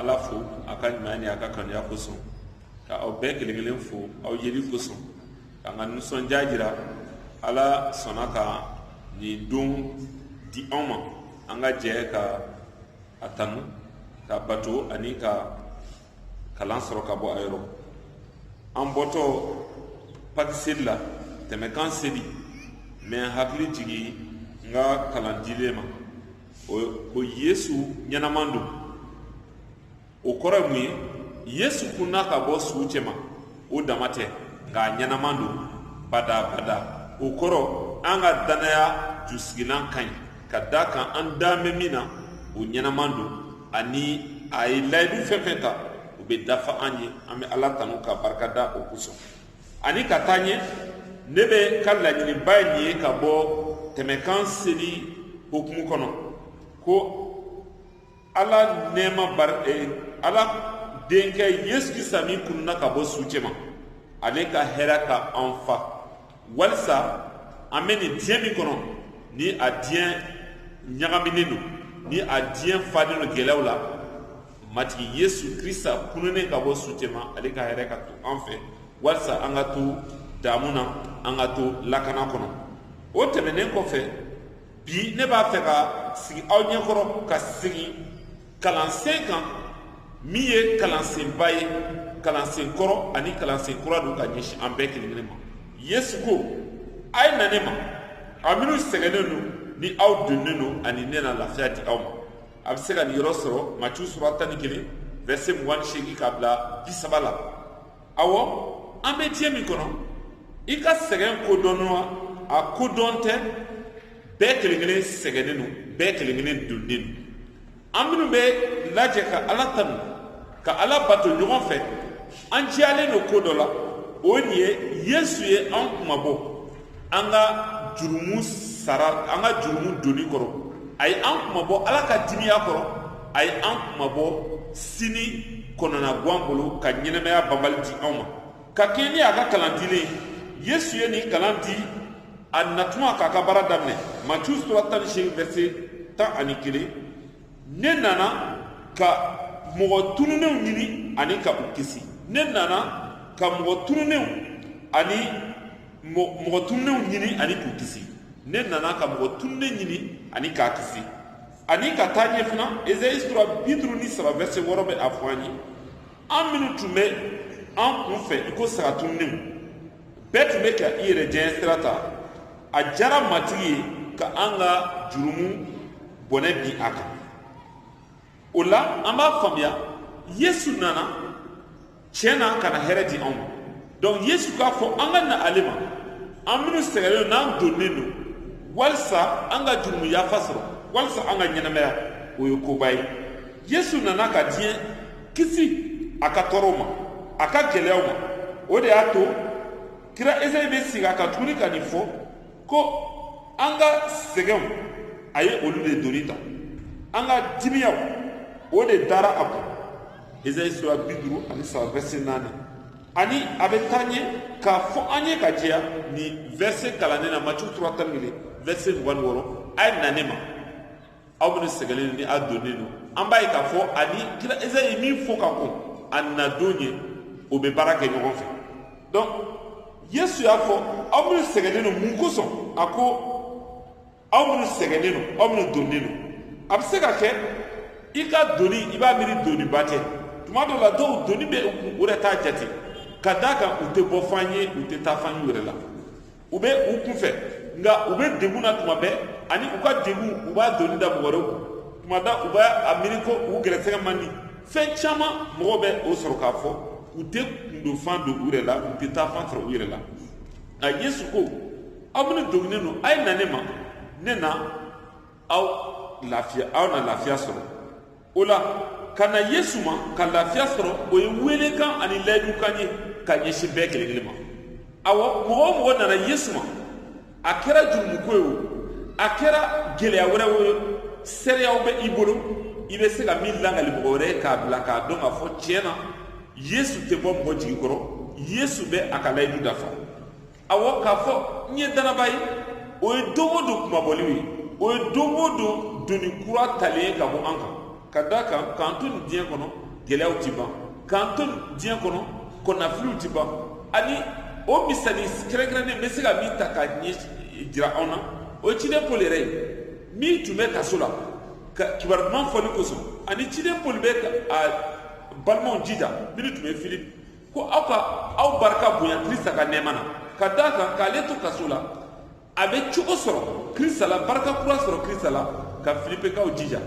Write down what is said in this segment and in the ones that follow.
ala fo a ka ɲumanya ni a ka kanuya kosɔn ka aw bɛɛ kelen kelen fo aw yeli kosɔn ka n ka nisɔndiya jira ala sɔnna ka nin don di anw ma an ka jɛ ka a tanu ka bato ani ka kalan sɔrɔ ka bɔ a yɔrɔ an bɔtɔ paki seli la tɛmɛkan seli n bɛ hakili jigin n ka kalan dilen ma o ko yesu ɲɛnaman don o kɔrɔ ye mun ye yesu kunna ka bɔ suw cɛma o dama tɛ nka a ɲɛnaman don badabada o kɔrɔ an ka dannaya jusigilan ka ɲi ka d'a kan an dalen bɛ min na o ɲɛnaman don ani a ye layidu fɛn fɛn ta u bɛ dafa an ye an bɛ ala tanu ka barika da o kosɔn ani ka taa ɲɛ ne bɛ ka laɲiniba ye nin ye ka bɔ tɛmɛkan seli hukumu kɔnɔ ko ala nɛɛma bari eh, ala denkɛ yesu krista min kununna ka bɔ su cɛma ale ka hɛrɛ ka an fa walisa an bɛ nin diɲɛ min kɔnɔ ni a diɲɛ ɲagaminen don ni a diɲɛ falen don gɛlɛyaw la matigi yesu krista kununnen ka bɔ su cɛma ale ka hɛrɛ ka to an fɛ walisa an ka to damu na an ka to lakana kɔnɔ o tɛmɛnnen kɔfɛ bi ne b'a fɛ ka sigi aw ɲɛkɔrɔ ka segin kalansen kan min ye kalansenba ye kalansen kɔrɔ ani kalansen kura don ka ɲɛsin an bɛɛ kelen kelen ma yesu ko a ye na ne ma aw minnu sɛgɛnnen don ni aw doninen don ani ne na lafiya di aw ma a bɛ se ka nin yɔrɔ sɔrɔ matiyu sura tan ni kelen vɛrse mugan ni seegin k'a bila bi saba la awɔ an bɛ diɲɛ min kɔnɔ i ka sɛgɛn kodɔnnen wa a kodɔn tɛ bɛɛ kelen kelen sɛgɛnnen don bɛɛ kelen kelen doninen don an minnu bɛ lajɛ ka ala tanu ka ala bato ɲɔgɔn fɛ an jigiyalen don ko dɔ la o nin ye yesu ye an kunmabɔ an ka jurumu sara an ka jurumu doni kɔrɔ a ye an kunmabɔ ala ka dimiya kɔrɔ a ye an kunmabɔ sini kɔnɔnagwan bolo ka ɲɛnamaya banbali di anw ma ka kɛɲɛ ni a ka kalan dilen yesu ye nin kalan di a natuma k'a ka baara daminɛ matiyu sura tan ni seegin vɛrse tan ani kelen ne nana ka mɔgɔ tununenw ɲini ani ka u kisi ne nana ka mɔgɔ tununenw ani mɔgɔ tununenw ɲini ani k'u kisi ne nana ka mɔgɔ tununen ɲini ani k'a kisi ani ka taa ɲɛ fana ezayi sura bi duuru ni saba vɛrse wɔɔrɔ bɛ a fɔ an ye an minnu tun bɛ an kun fɛ i ko saga tununenw bɛɛ tun bɛ ka i yɛrɛ diyanye sira ta a diyara matigi ye ka an ka jurumu bɔnɛ bin a kan o la an b'a faamuya yesu nana tiɲɛ na ka na hɛrɛ di anw ma donc yesu k'a fɔ an ka na ale ma an minnu sɛgɛnnen don n'an doninen don walisa an ka jurumu yafa sɔrɔ walisa an ka ɲɛnamaya o ye koba ye yesu nana ka diɲɛ kisi a ka tɔɔrɔw ma a ka gɛlɛyaw ma o de y'a to kira esayi bɛ segin a kan tuguni ka nin fɔ ko an ka sɛgɛnw a ye olu de doni ta an ka dimiyaw o de dara a kun esayi sura bi duuru ani saba vɛse naani ani a bɛ taa ɲɛ k'a fɔ an ye k'a jɛya nin vɛse kalannen na matiyu sura tan ni kelen vɛse mugan ni wɔɔrɔ a ye na ne ma aw minnu sɛgɛnnen don ni a doninen don an b'a ye k'a fɔ ani kira esayi ye min fɔ ka kɔn a nadon ɲɛ o bɛ baara kɛ ɲɔgɔn fɛ donc yesu y'a fɔ aw minnu sɛgɛnnen don mun kosɔn a ko aw minnu sɛgɛnnen don aw minnu doninen don a bɛ se ka kɛ i ka doni i b'a miiri doniba tɛ tuma dɔw la dɔw doni bɛ u kun u yɛrɛ t'a jate ka d'a kan u tɛ bɔ fan ye u tɛ taa fan ye u yɛrɛ la u bɛ u kunfɛ nka u bɛ degun na tuma bɛɛ ani u ka degun u b'a doni da mɔgɔ wɛrɛw kun tuma dɔ u b'a miiri ko u gɛrɛsɛgɛ man di fɛn caman mɔgɔw bɛ o sɔrɔ k'a fɔ u tɛ kundonfan dɔn u yɛrɛ la u tɛ taa fan sɔrɔ u yɛrɛ la nka yesu ko aw minnu doninen don a ye na ne ma ne na aw lafiya aw na lafiya sɔrɔ o la ka na yesu ma ka lafiya sɔrɔ o ye weelekan ani layidukan ye ka ɲɛsin bɛɛ kelen kelen ma awɔ mɔgɔ o mɔgɔ nana yesu ma a kɛra jurumuko ye o a kɛra gɛlɛya wɛrɛw ye seereyaw bɛ i bolo i bɛ se ka min lakali mɔgɔ wɛrɛ ye k'a bila k'a dɔn k'a fɔ tiɲɛ na yesu tɛ bɔ mɔgɔ jigi kɔrɔ yesu bɛ a ka layidu dafa awɔ k'a fɔ n ye dannabaa ye o ye don o don kunmabɔliw ye o ye don o don doni kura talen ye ka bɔ an kan ka d'a kan k'an to nin diɲɛ kɔnɔ gɛlɛyaw tɛ ban k'an to diɲɛ kɔnɔ kɔnɔnafiliw tɛ ban ani o misali kɛrɛnkɛrɛnnen n bɛ se ka min ta k'a ɲɛjira anw na o ye ciden poli yɛrɛ ye min tun bɛ kaso la ka kibaru duman fɔli kosɔn ani ciden poli bɛ a balimaw jija minnu tun bɛ filipe ko aw ka aw barika bonya krista ka nɛɛma na ka d'a kan k'ale to kaso la a bɛ cogo sɔrɔ krista la barika kura sɔrɔ krista la ka filipekaw jija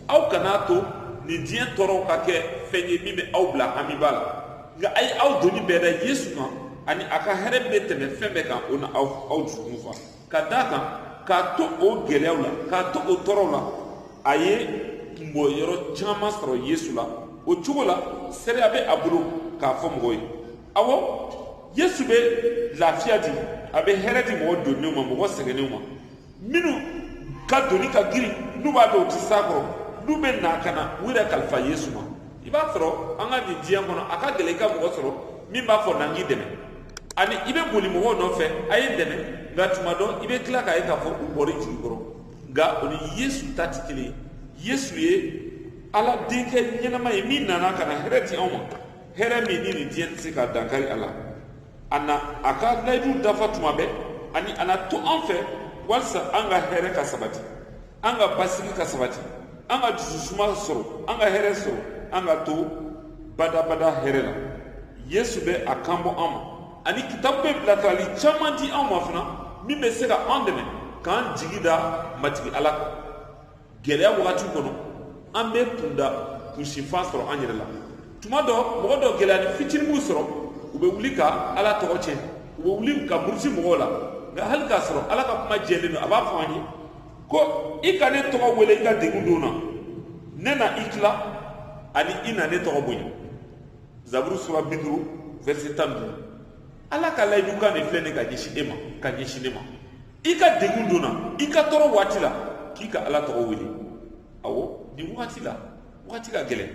aw kana to nin diɲɛ tɔɔrɔw ka kɛ fɛn ye min bɛ aw bila hamiba la nka a ye aw doni bɛɛ da yesu kan ani a ka hɛrɛ bɛ tɛmɛ fɛn bɛɛ kan o na aw dusukun fa ka d'a kan k'a to o gɛlɛyaw la k'a to o tɔɔrɔw la a ye kunbɔ yɔrɔ caman sɔrɔ yesu la o cogo la seereya bɛ a bolo k'a fɔ mɔgɔw ye awɔ yesu bɛ lafiya di a bɛ hɛrɛ di mɔgɔ donnenw ma mɔgɔ sɛgɛnnenw ma minnu ka doni ka girin n'u b'a dɔn u tɛ s'a kɔrɔ n'u bɛ na ka na u yɛrɛ kalifa yesu ma i b'a sɔrɔ an ka nin diɲɛ kɔnɔ a ka gɛlɛn i ka mɔgɔ sɔrɔ min b'a fɔ na n k'i dɛmɛ ani i bɛ boli mɔgɔw nɔfɛ a ye dɛmɛ nka tuma dɔ i bɛ tila k'a ye k'a fɔ u bɔr'i jigi kɔrɔ nka o ni yesu ta tɛ kelen ye yesu ye ala denkɛ ɲɛnama ye min nana ka na hɛrɛ di anw ma hɛrɛ min ni nin diɲɛ tɛ se ka dankari a la a na a ka layidu dafa tuma bɛɛ ani a na to an fɛ walisa an ka hɛrɛ ka sabati an ka basigi ka sabati an ka dususuma sɔrɔ an ka hɛrɛ sɔrɔ an ka to badabada hɛrɛ la yesu bɛ a kan bɔ an ma ani kitabu bɛ bilasirali caman di an ma fana min bɛ se ka an dɛmɛ k'an jigi da matigi ala kan gɛlɛya wagati kɔnɔ an bɛ kunda kunsinfan sɔrɔ an yɛrɛ la tuma dɔ mɔgɔ dɔ gɛlɛyanin fitinin b'u sɔrɔ u bɛ wuli ka ala tɔgɔ tiɲɛ u bɛ wuli ka muruti mɔgɔw la nka hali k'a sɔrɔ ala ka kuma jɛlen don a b'a fɔ an ye ko i ka ne tɔgɔ wele i ka degun don na ne na i tila ani i na ne tɔgɔ bonya zaburu sura bi duuru verset tan duuru ala ka layidukan de filɛ nin ka ɲɛsin e ma ka ɲɛsin ne ma i ka degun don na i ka tɔɔrɔ waati la k'i ka ala tɔgɔ wele awɔ nin wagati la wagati ka gɛlɛn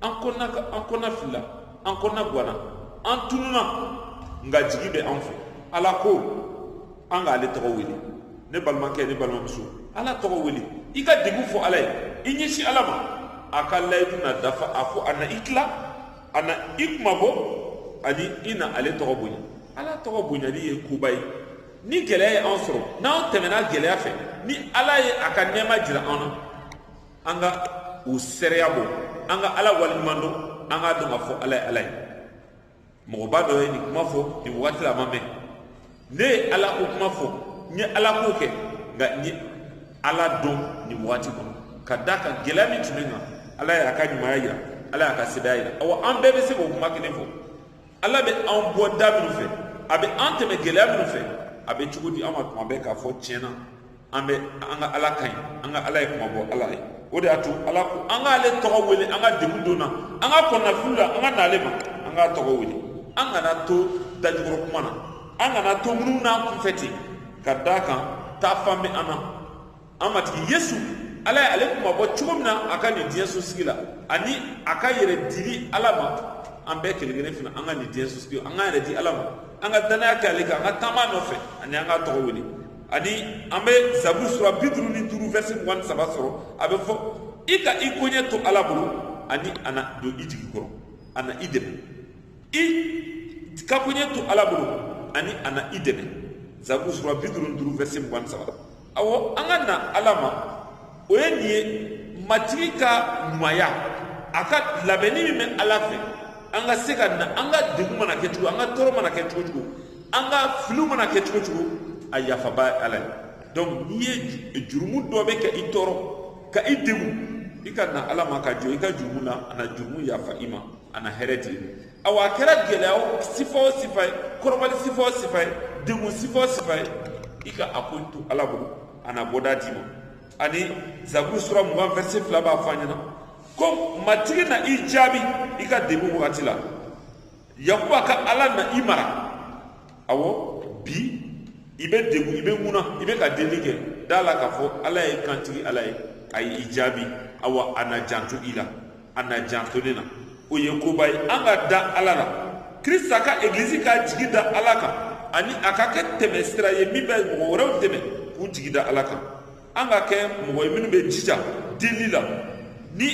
an kɔnɔna an kɔnɔna filila an kɔnɔna gwanna an tununa nka jigi bɛ an fɛ ala ko an k'ale tɔgɔ wele ne balimakɛ ne balimamuso ala tɔgɔ wele i ka degun fɔ ala ye i ɲɛsin ala ma a ka layidu na dafa a ko a na i tila a na i kunmabɔ ani i na ale tɔgɔ bonya ala tɔgɔ bonyali ye koba ye ni gɛlɛya ye an sɔrɔ n'an tɛmɛna gɛlɛya fɛ ni ala ye a ka nɛɛma jira an na an ka o seereya bɔ an ka ala waleɲuman dɔn an k'a dɔn k'a fɔ ala ye ala ye mɔgɔba dɔ ye nin kuma fɔ nin wagati la a ma mɛn ne ye ala ko kuma fɔ n ye ala ko kɛ nka n ye ala dɔn nin wagati kɔnɔ ka d'a kan gɛlɛya min tun bɛ n kan ala y'a ka ɲumanya jira ala y'a ka sebaaya jira awa an bɛɛ bɛ se k'o kuma kelen fɔ ala bɛ an bɔ da minnu fɛ a bɛ an tɛmɛ gɛlɛya minnu fɛ a bɛ cogo di an ma tuma bɛɛ k'a fɔ tiɲɛ na an bɛ an ka ala ka ɲi an ka ala ye kunmabɔ ala ye o de y'a to ala ko an k'ale tɔgɔ wele an ka degun don na an ka kɔnɔnafili la an ka n'ale ma an k'a tɔgɔ wele an kana to dajukɔrɔ kuma na an kana to munu n'an kunfɛ ten ka d'a kan taafan bɛ an na an matigi yesu ala ye ale kunmabɔ cogo min na a ka nin diɲɛ sosigi la ani a ka yɛrɛ dili ala ma an bɛɛ kelen kelen fana an ka nin diɲɛ sosigi an k'an yɛrɛ di ala ma an ka dannaya kɛ ale kan an ka taama nɔfɛ ani an k'a tɔgɔ wele ani an bɛ zaburu sura bi duuru ni duuru verset mugan ni saba sɔrɔ a bɛ fɔ i ka i koɲɛ to ala bolo ani a na don i jigi kɔrɔ a na i dɛmɛ i ka koɲɛ to ala bolo ani a na i dɛmɛ zaburu sura bi duuru ni duuru verset mugan ni saba ɔwɔ an ka na ala ma o ye nin ye matigi ka ɲumanya a ka labɛnni min bɛ ala fɛ an ka se ka na an ka degun mana kɛ cogo an ka tɔɔrɔ mana kɛ cogo o cogo an ka filiw mana kɛ cogo o cogo a yafaba ye ala ye donc n'i ye jurumu dɔ bɛ ka i tɔɔrɔ ka i degun i ka na ala ma ka jɔ i ka jurumu na a na jurumu yafa i ma a na hɛrɛ di i ma awa a kɛra gɛlɛya sifa o sifa ye kɔrɔbali sifa o sifa ye degun sifa o sifa ye i ka a ko to ala bolo a na bɔda d'i ma ani zaburu sura mugan verset fila b'a fɔ an ɲɛna ko matigi na i jaabi i ka degun wagati la yakuba ka ala na i mara awɔ bi i bɛ degun i bɛ ŋuna i bɛ ka delili kɛ da la k'a fɔ ala ye kantigi ala ye a ye i jaabi awa a na janto i la a na janto ne na o ye koba ye an ka da ala la krista ka egilizi k'a jigi da ala kan ani a ka kɛ tɛmɛ sira ye min bɛ mɔgɔ wɛrɛw dɛmɛ k'u jigi da ala kan an ka kɛ mɔgɔ ye minnu bɛ jija delili la ni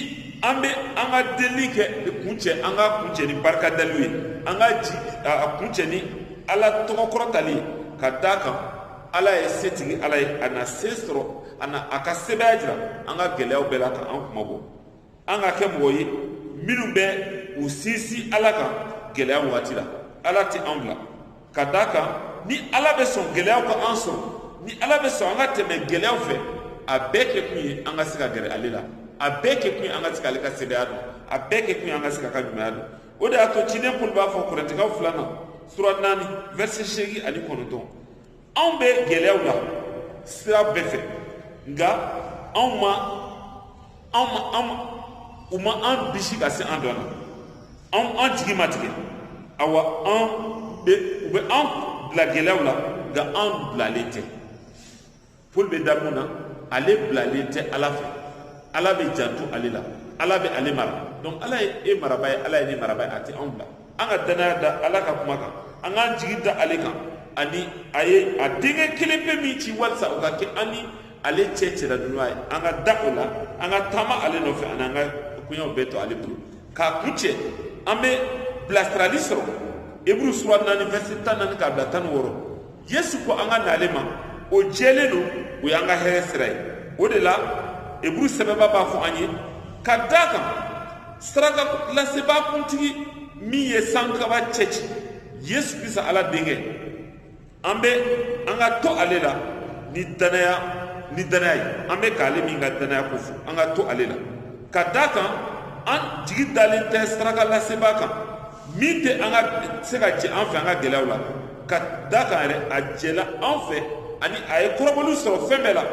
an bɛ an ka delili kɛ kuncɛ an k'a kuncɛ ni barikadaliw ye an k'a kuncɛ ni ala tɔgɔ kɔrɔtali ye ka d'a kan ala ye setigi ala ye a na se sɔrɔ a na a ka sebaaya jira an ka gɛlɛyaw bɛɛ la ka an kunmabɔ an ka kɛ mɔgɔ ye minnu bɛ u sinsin ala kan gɛlɛya wagati la ala tɛ an bila ka d'a kan ni ala bɛ sɔn gɛlɛyaw ka an sɔrɔ ni ala bɛ sɔn an ka tɛmɛ gɛlɛyaw fɛ a bɛɛ kɛ kun ye an ka se ka gɛrɛ ale la a bɛɛ kɛ kun ye an ka se ka ale ka sebaaya dɔn a bɛɛ kɛ kun ye an ka se k'a ka ɲumanya dɔn o de y'a to ciden paul b'a fɔ korɛntikaw filanan sura naani verset seegin ani kɔnɔntɔn anw bɛ gɛlɛyaw la sira bɛɛ fɛ nka anw ma anw ma anw u ma an bisi ka se an dɔn na anw an jigi ma tigɛ awa an bɛ u bɛ an bila gɛlɛyaw la nka an bilalen tɛ paul bɛ da mun na ale bilalen tɛ ala fɛ ala bɛ janto ale la ala bɛ ale mara donc ala ye e maraba ye ala ye ne maraba ye a tɛ anw bila an ka dannaya da ala ka kuma kan an k'an jigi da ale kan ani a ye a denkɛ kelen pe min ci walisa o ka kɛ an ni ale cɛ cɛladonbaa ye an ka da o la an ka taama ale nɔfɛ ani an ka koɲɛw bɛɛ to ale bolo k'a kuncɛ an bɛ bilasirali sɔrɔ eburu sura naani verset tan ni naani k'a bila tan ni wɔɔrɔ yesu ko an ka n'ale ma o jɛlen don o y'an ka hɛrɛ sira ye o de la eburu sɛbɛbaa b'a fɔ an ye ka da kan saraka lasebaa kuntigi min ye sankaba cɛci yesu krista ala denkɛ an bɛ an ka to ale la ni danaya ni danaya ye an bɛ k'ale min ka danaya ko fɔ an ka to ale la ka da kan an jigi dalen tɛ saraka lasebaa kan min tɛ an ka se ka jɛ an fɛ an ka gɛlɛyaw la ka da kan yɛrɛ a jɛla an fɛ ani a ye kɔrɔbɔliw sɔrɔ fɛn bɛɛ la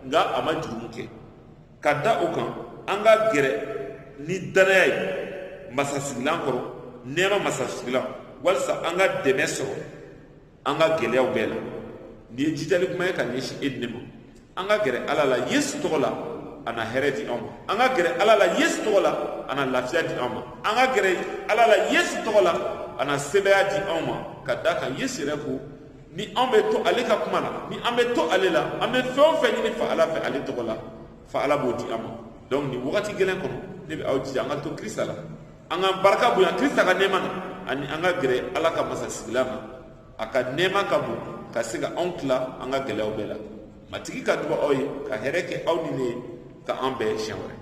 nka a ma jurumu kɛ ka da o kan an ka gɛrɛ ni danaya ye masasigilan kɔrɔ nɛɛma masasigilan walisa an ka dɛmɛ sɔrɔ an ka gɛlɛyaw bɛɛ la nin ye jijali kuma ye ka ɲɛsin e ni ne ma an ka gɛrɛ ala la yesu tɔgɔ la a na hɛrɛ di an ma an ka gɛrɛ ala la yesu tɔgɔ la a na lafiya di an ma an ka gɛrɛ ala la yesu tɔgɔ la a na sebaaya di an ma ka da kan yesu yɛrɛ ko ni an bɛ to ale ka kuma la ni an bɛ to ale la an bɛ fɛn o fɛn ɲini fa ala fɛ ale tɔgɔ la fa ala b'o di an ma donc nin wagati gɛlɛn kɔnɔ ne bɛ aw jija an ka to krista la an ka barika bonya krista ka nɛɛma na ani an ka gɛrɛ ala ka masasigilan ma a ka nɛɛma ka bon ka se ka anw tila an ka gɛlɛyaw bɛɛ la matigi ka duba aw ye ka hɛrɛ kɛ aw ni ne ye ka an bɛn siɲɛ wɛrɛ